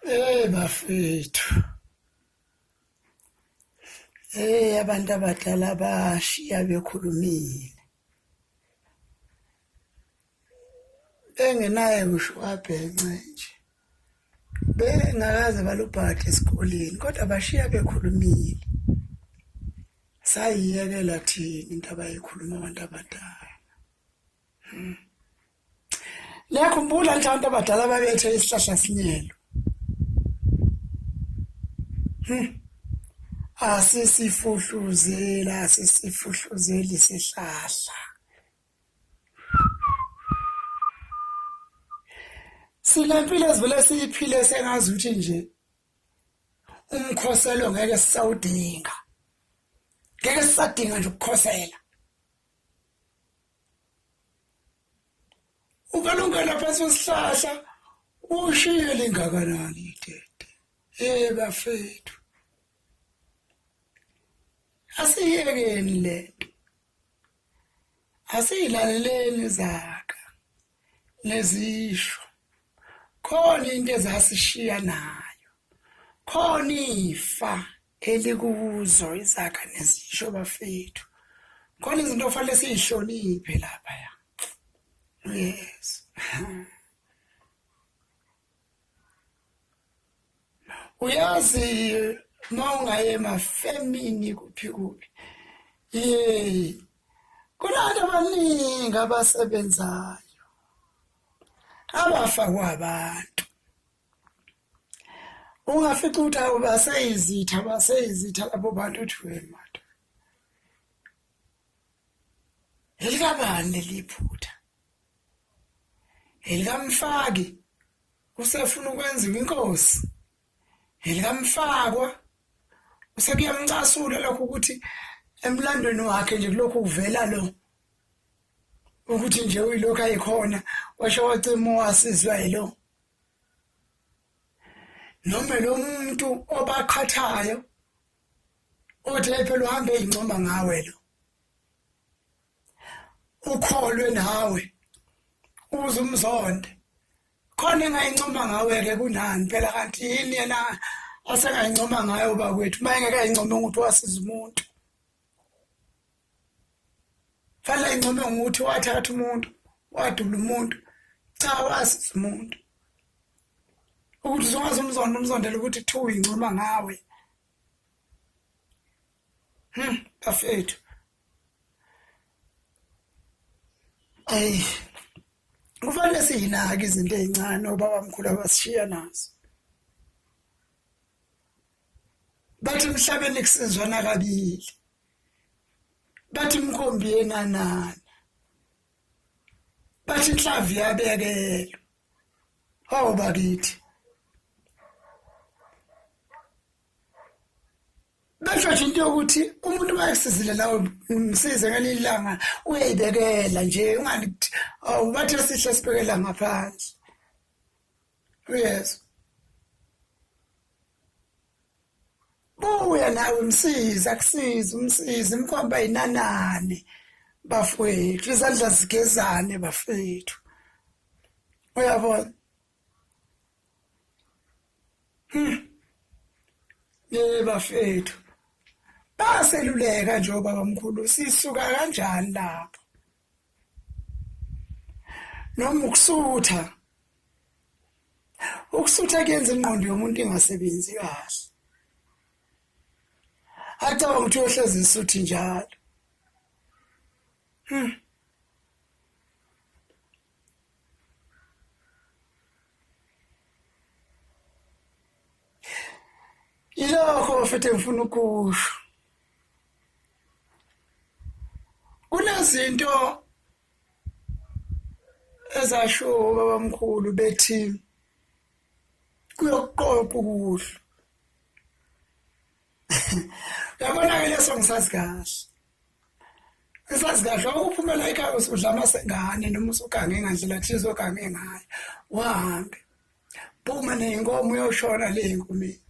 Hey bafethu. Hey abantu abadala bashiya bekhulumile. Bengenaye ngisho abhence nje. Bengakaze balubhade esikoleni kodwa bashiya bekhulumile. Sayiyekela thina into abayikhuluma abantu abadala. Hmm. Niyakhumbula nje abantu abadala babethe isihlahla sinyelo. Hmm. Asisifuhluzela, asisifuhluzeli sihlahla. Sinempilo ezivele siyiphile sengazi ukuthi nje umkhoselo ngeke sisawudinga. Ngeke sisadinga nje ukukhosela. ukalungela phansi kwesihlahla ushiye lingakanani itete hey bafethu asiyekeni lento asiyilaleleni zaka nezisho khona into ezasishiya nayo khona ifa elikuzo izakha nezisho bafethu khona izinto ofanele siyihloniphe lapha ya yes uyazi uma ungaye mafemini kuphi kuphi ye kunantu abaningi abasebenzayo abafakwa abantu ungafica ukuthi awu baseyizitha baseyizitha labo bantu uthi wemata elikabani leliphutha elikamfaki usefuna ukwenziwa inkosi elikamfakwa usekuyamcasula lokho ukuthi emlandweni wakhe nje kulokhu uvela lo ukuthi nje uyilokhu ayikhona washo wacima wasizwa yilo noma lo muntu obaqhathayo othi phela uhambe ezincoma ngawe lo ukholwe nawe uze umzonde khona engayincoma ngawe ke kunani phela kanti yini yena asengayincoma ngayo bakwethu uma engeke ayincome ukuthi wasiza umuntu fanele income ngokuthi wathatha umuntu wadubula umuntu cha wasiza umuntu ukuthi uzokwazi umzondo umzondela ukuthi two incoma ngawe hmm bafethu ayi kufanele siyinake izinto ezincane obaba mkhulu abasishiya nazo bathi emhlabeni kusizwana kabili bathi inkombi yenanana bathi inhlavu yabekelwa hawu bakithi basho nje into yokuthi umuntu mayesizile nawe msize ngelinye ilanga uyayibekela nje ungathi awubathe sihle sibekela ngaphansi uyezwa buya nawe msiza kusiza umsiza imkhomba yinanane bafowethu izandla zigezane bafowethu uyabona hmm. ye bafethu baseluleka nje obaba mkhulu sisuka kanjani lapho noma ukusutha ukusutha kuyenza ingqondo yomuntu ingasebenzi kahle acabanga ukuthi uyohlezi isuthi njalo hmm. ilokho futhi ngifuna ukusho kunezinto ezasho babamkhulu bethi kuyokuqoqa ukudla yabona ke leso ngisazi kahle ngisazi kahle ukuphumela ekhaya usudla amasengane noma usugange ngandlela thize ogange ngayo wahambe phuma neyinkomo uyoshona le nkumini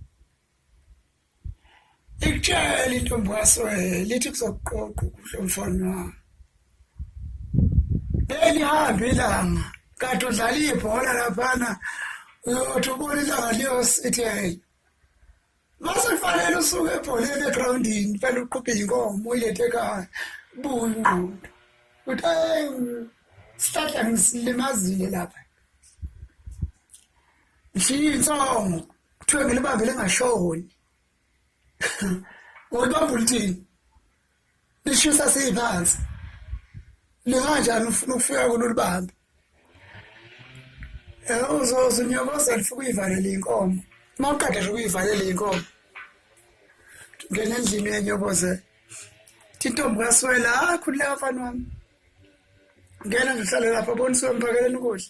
ikutshela intombi kaswele lithi kuzokuqoqa ukudla umfana wami belihambe ilanga kade udlala ibhola laphana uyothi ubona ilanga liyosithi hey mase kufanele usuke ebholeni egrawundini fanele uqhubhe inkomo uyilethe ekhaya buye ingqondo uthi hey sihlahla ngisilimazile lapha ngifiye insongo kuthiwe ngilibambe lingashoni ngolibamba ulithini lishisa siyiphansi linganjani ufuna ukufika kulo libambe eh, uzoze unyokoze lifika uyivalela iy'nkomo uma uqeda nje ukuyivalela iy'nkomo ngena endlini uyanyokoze thi intombi kaswela hayi khululeka mfana wami ngena nje uhlale lapha bonisiwe mphakela ukudla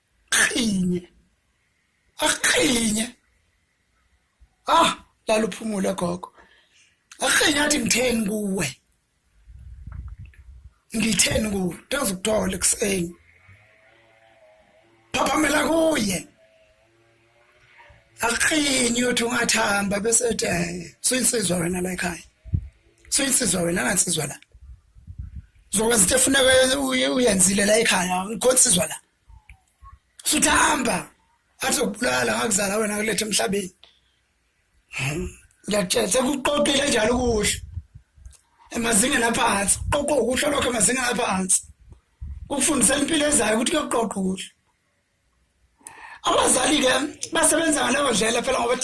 qhinye aqhinye ah lalo phumule gogo aqhinye athi ngitheni kuwe ngitheni kuwe ndazi ukuthola ekuseni phaphamela kuye akuqinyi uthi ungathi hamba bese ethi eh, suyinsizwa wena la ekhaya suyinsizwa wena angansizwa la zokwenza into efuneka uyenzile la ekhaya ngikhonsizwa la suthi hamba athi ukubulala ngakuzala wena kulethe emhlabeni ngiyakutshela sekuqoqile njalo ukuhle emazingeni aphansi qoqo ukuhle lokho emazingeni aphansi ukufundisela impilo ezayo ukuthi kuyoqoqa ukuhle abazali ke basebenza ngaleyo ndlela phela ngoba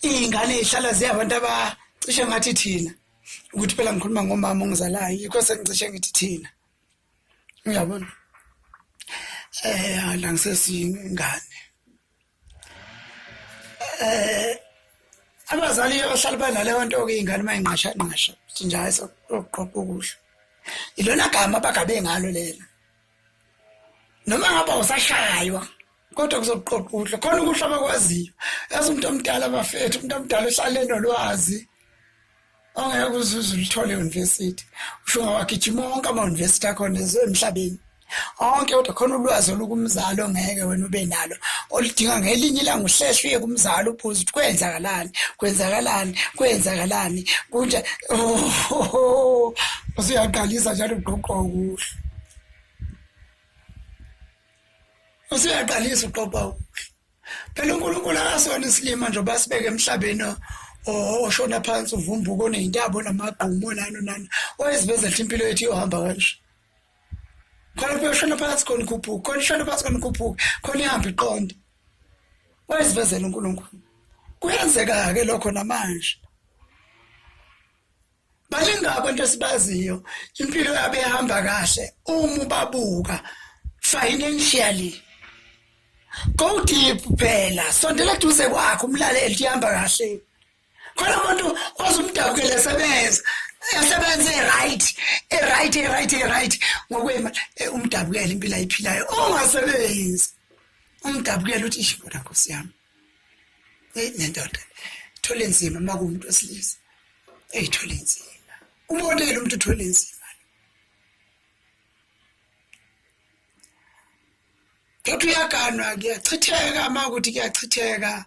iy'ngane y'hlala ziyabantu abacishe ngathi thina ukuthi phela ngikhuluma ngomama ongizalayo yikho sengicishe ngithi thina uyabona um la ngisesiyingane um abazali abahlala banaleyo nto ke iy'ngane uma ingqashanqasha ukuthi nje hayi sokuqoqa ukudla ilona gama abagabe ngalo lena noma ngaba usashaywa kodwa kuzoqoqa ukudla khona ukudla abakwaziyo yazi umuntu omdala bafethu umuntu omdala uhlale nolwazi ongeke kuzuza ulithole euniversity usho ngawagijima wonke ama-university akhona emhlabeni onke kodwa khona ulwazi olukumzali ongeke wena ube nalo oludinga ngelinye ilanga uhlehla uye kumzali ubuze ukuthi kwenzakalani kwenzakalani kwenzakalani kunje oh, oh, oh, oh. usuyaqalisa njalo ugqoqwa ukuhla usuyaqalisa uqopa ukudla phela unkulunkulu akasona isilima nje oba sibeke emhlabeni oshona phansi uvumbuka oneyintabo namagqumu onani onani wayeziveza ethi impilo yethu iyohamba kanje khona kuyoshona phansi khona ikhuphuka khona ishona phansi khona ikhuphuka khona ihambe iqonde wayezivezela uNkulunkulu kuyenzeka-ke lokho namanje baningi abantu esibaziyo impilo yabo ehamba kahle uma ubabuka financially go deep phela sondela duze kwakho umlaleli ihamba kahle khona umuntu ozumdabukele sebenza esebenze right right right right ngokwema eh, umdabukele impilo ayiphilayo ongasebenzi umdabukele uthi ishibona nkosi yami eyi nendoda thole nzima uma kuwumuntu wesilisa eyi thole nzima umonele umuntu thole nzima Kodwa uyaganwa kuyachitheka uma ukuthi kuyachitheka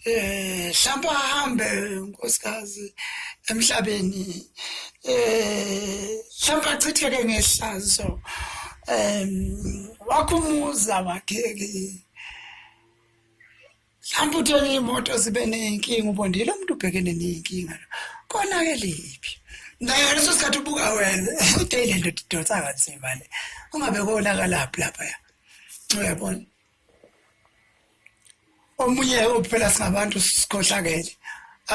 eh hlamba hambe nkosikazi emhlabeni eh hlamba chitheke ngehlazo em wakhumuza wakheke mhlawumbe uthenge iy'moto zibe ney'nkinga ubondile umuntu ubhekene ney'nkinga lo konake liphi naye ngaleso sikhathi ubuka wena kude ile ndoda idonsa kanzima le ungabe konakalaphi laphaya uyabona omunye uphela singabantu sikhohlakele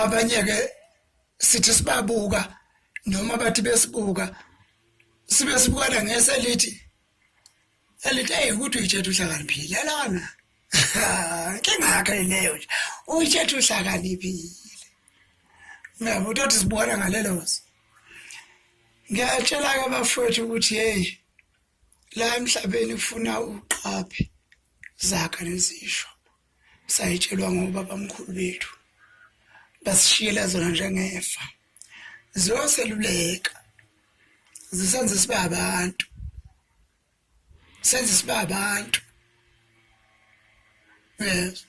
abanye-ke sithi sibabuka noma bathi besibuka sibe sibukana ngese lithi elithi eyi ukuthi uyitshetha uhlakaniphile lona nkingakho leyo nje uyitshetha uhlakaniphile ngiyabo utothi sibona ngalelozo ngiyatshela-ke abafowethu ukuthi heyi la emhlabeni kufuna uqaphe zakha nezisho sayitshelwa ngobabamkhulu bethu basishiyela zona njengefa ziyoseluleka zisenze sibe abantu senze sibe abantu yes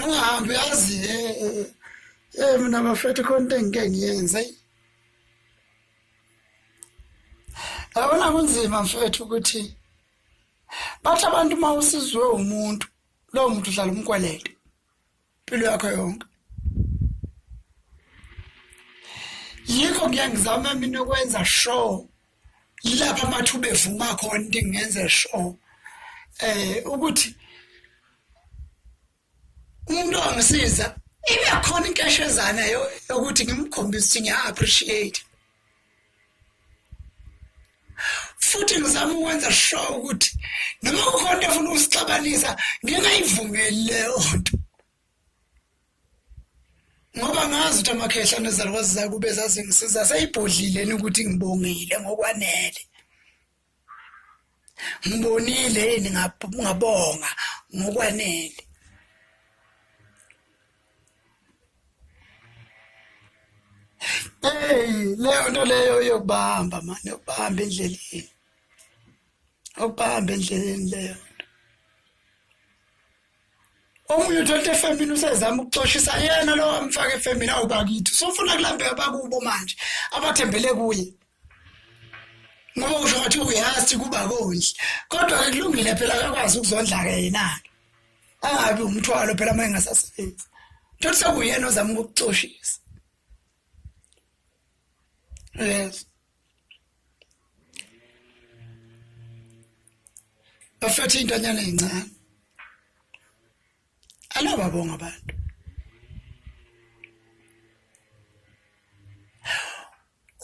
ungahambi yazi eh, eh, eh, mina bafethu khona into engike ngiyenze yabona kunzima mfethu ukuthi bathi abantu uma usizwe umuntu lowo muntu uhlala umkwelete impilo yakho yonke yikho ngiyangizama mina ukwenza show yilapha amathuba evuma khona into engenze show eh ukuthi umuntu ongisiza ibe khona inkeshezana yokuthi ngimkhombise ukuthi ngiya-appreciate futhi ngizama ukwenza sure ukuthi noma kukhona into efuna ukusixabanisa ngingayivumeli leyo nto ngoba ngazi ukuthi amakhehla nezalukwazi zakube zazingisiza seyibhodlileni ukuthi ngibongile ngokwanele ngibonile yini ngabonga ngokwanele hey leyo nto leyo yokubamba mani yokubamba endleleni yokubamba endleleni leyo omunye uthola efemini usezama ukuxoshisa yena lo amfaka efemini awu bakithi usofuna kulambeka bakubo manje abathembele kuye ngoba usho ngathi uyazi kuba konje kodwa ke kulungile phela akakwazi ukuzondla ke yena angabi umthwalo phela uma engasasebenzi thothi sekuyena ozama ukuxoshisa yes bafethe intanyana ezincane alababonga abantu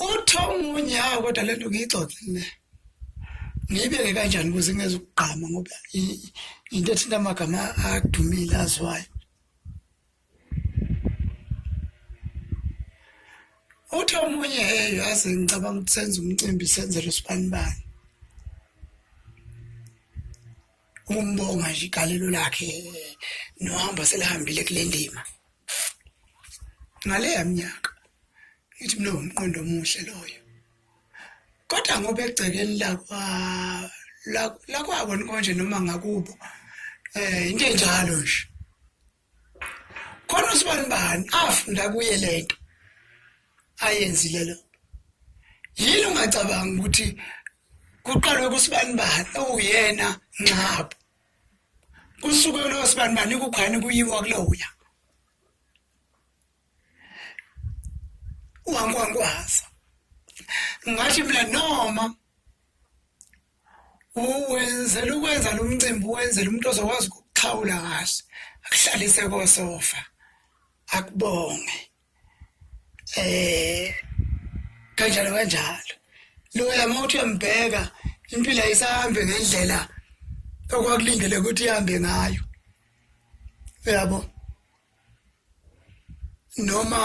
uthomunye kodwa lento ngiyixoxe mina ngiyibeke kanjani ukuze ngeze ukugqama ngoba into ethinta amagama adumile aziwayo uthi omunye hey yazi ngicabanga ukuthi senze umcimbi senzele usibanibani umbonga nje igalelo lakhe nohamba selihambile kule ndima ngaleya minyaka ngithi mina ngumqondo omuhle loyo kodwa ngoba egcekeni lakwa lakwabo konje noma ngakubo eh into enjalo nje khona usibani bani afunda kuye lento ayenzile lo yini ungacabanga ukuthi kuqalwe kusibani bani okuyena nxabo kusuke lo sibani bani kukhani kuyiwa kuloya uhankwankwaza ngathi mina noma uwenzela ukwenza lo mcimbi uwenzela umuntu ozokwazi ukuxhawula kahle akuhlalise kosofa akubonge eh kanjalo kanjalo loya uma uthi uyambheka impilo ayisahambe ngendlela okwakulindele ukuthi ihambe ngayo uyabo noma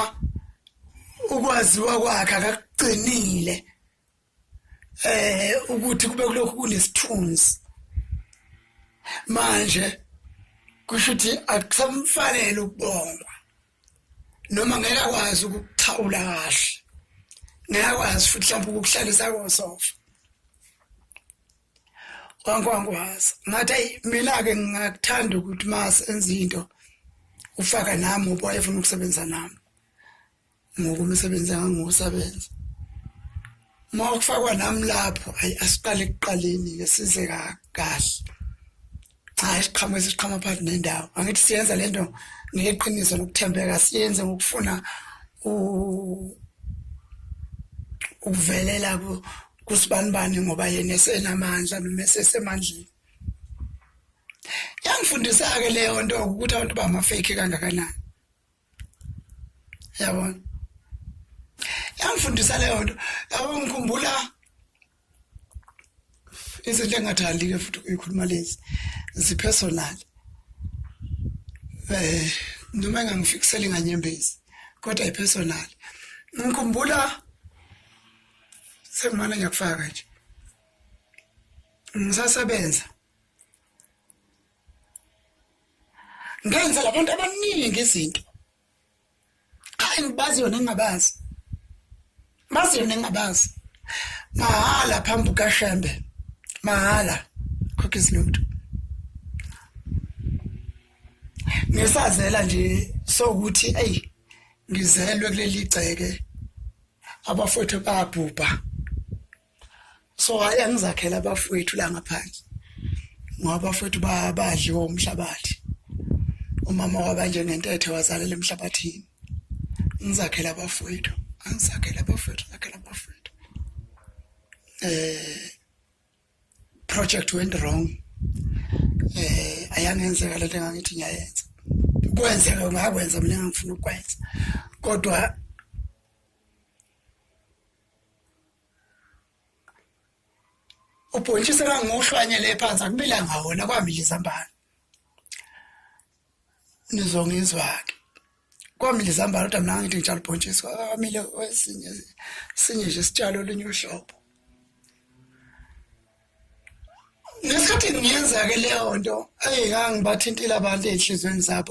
ukwaziwa kwakhe akakuqinile eh ukuthi kube kulokhu kunesithunzi manje kusho ukuthi akusamfanele ukubongwa noma ngeke akwazi ukuthawula kahle ngeke akwazi futhi mhlawumbe ukukuhlalisa kosofa kwankwankwaza ngathi ayi mina-ke ngingakuthanda ukuthi uma senza into ufaka nami uba efuna ukusebenza nami ngoku umsebenzi angangiwusebenza uma kufakwa nami lapho ayi asiqale ekuqaleni ke size kahle cha isiqhamo esiqhama phakathi nendawo angithi siyenza le nto ngeqiniso nokuthembeka siyenze ngokufuna ukuvelela kusibanibani ngoba yena esenamandla noma esesemandleni yangifundisa-ke leyo nto ukuthi abantu bama-fake kangakanani yabona yangifundisa leyo nto yabo ngikhumbula izinto engathandi-ke futhi uyikhuluma lezi zipersonal eh noma engangifikiseli nganyembezi kodwa ipersonal ngikhumbula sengimane ngiyakufaka nje ngisasebenza ngenza labantu abaningi izinto hayi ngibazi yona ngingabazi bazi yona ngingabazi mahhala phambi kashembe mahhala khokha izinto ngisazela nje sokuthi ey ngizelwe kuleli gceke abafowethu babhubha so hayi angizakhela abafowethu la ngaphandle ngoba abafowethu badliwa umhlabathi umama wabanje ngentethe wazalela emhlabathini ngizakhela abafowethu angizakhela abafowethu ngizakhela abafowethu eh project went wrong eh ayangenzeka lento engangithi ngiyayenza kwenzeka ngakwenza mina ngifuna ukwenza kodwa ubhontshisi engangiwuhlwanyele ephansi akubilanga wona kwamila izambane nizongizwa-ke kwamila izambane kodwa mina ngithi ngitshalo ubhontshisi kwamile esinye sinye nje isitshalo olunye uhlobo ngesikhathi ngiyenza-ke leyo nto eyi ngangibathintile abantu ey'nhliziyweni zabo